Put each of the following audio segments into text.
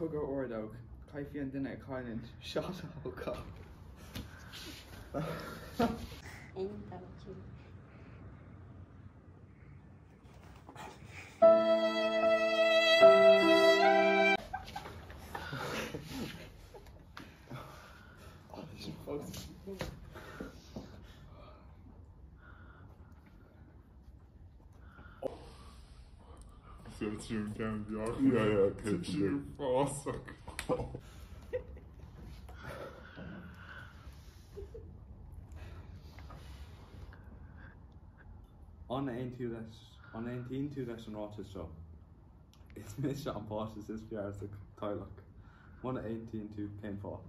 Cogadh ordóg, caithfidh an duine a chailleann, shot a thógáil. An aontaíonn tú leis an ráiteas seo? Is mise an páiste is fearr sa teaghlach. Muna aontaíonn tú, cén fáth?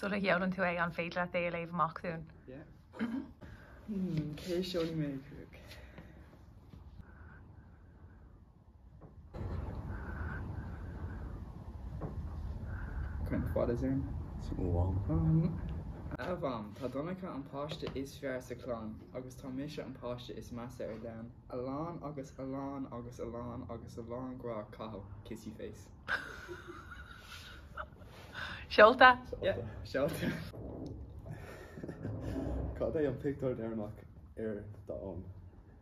Sula sheolann tú é, an féidir leat é a léamh amach dúinn? A Mham, tá Donncha an páiste is fearr sa chlann agus tá mise an páiste is measa ar domhan. A lán agus a lán agus a lán agus a lán grá, Cathal, kissy face. Seolta? Yeah, seolta. Cad é an pictiúr deireanach ar d'fhón?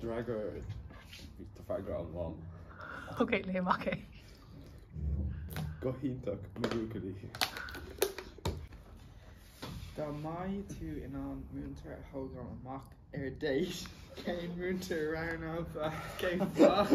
D'fhreagair Tá freagra agam Mham. Ok, léigh amach é. Go hiontach, mo bhuachaillí. Dá mbeadh tú in ann múinteoir a thógáil amach ar date, cén múinteoir a roghnófá? Cén fáth?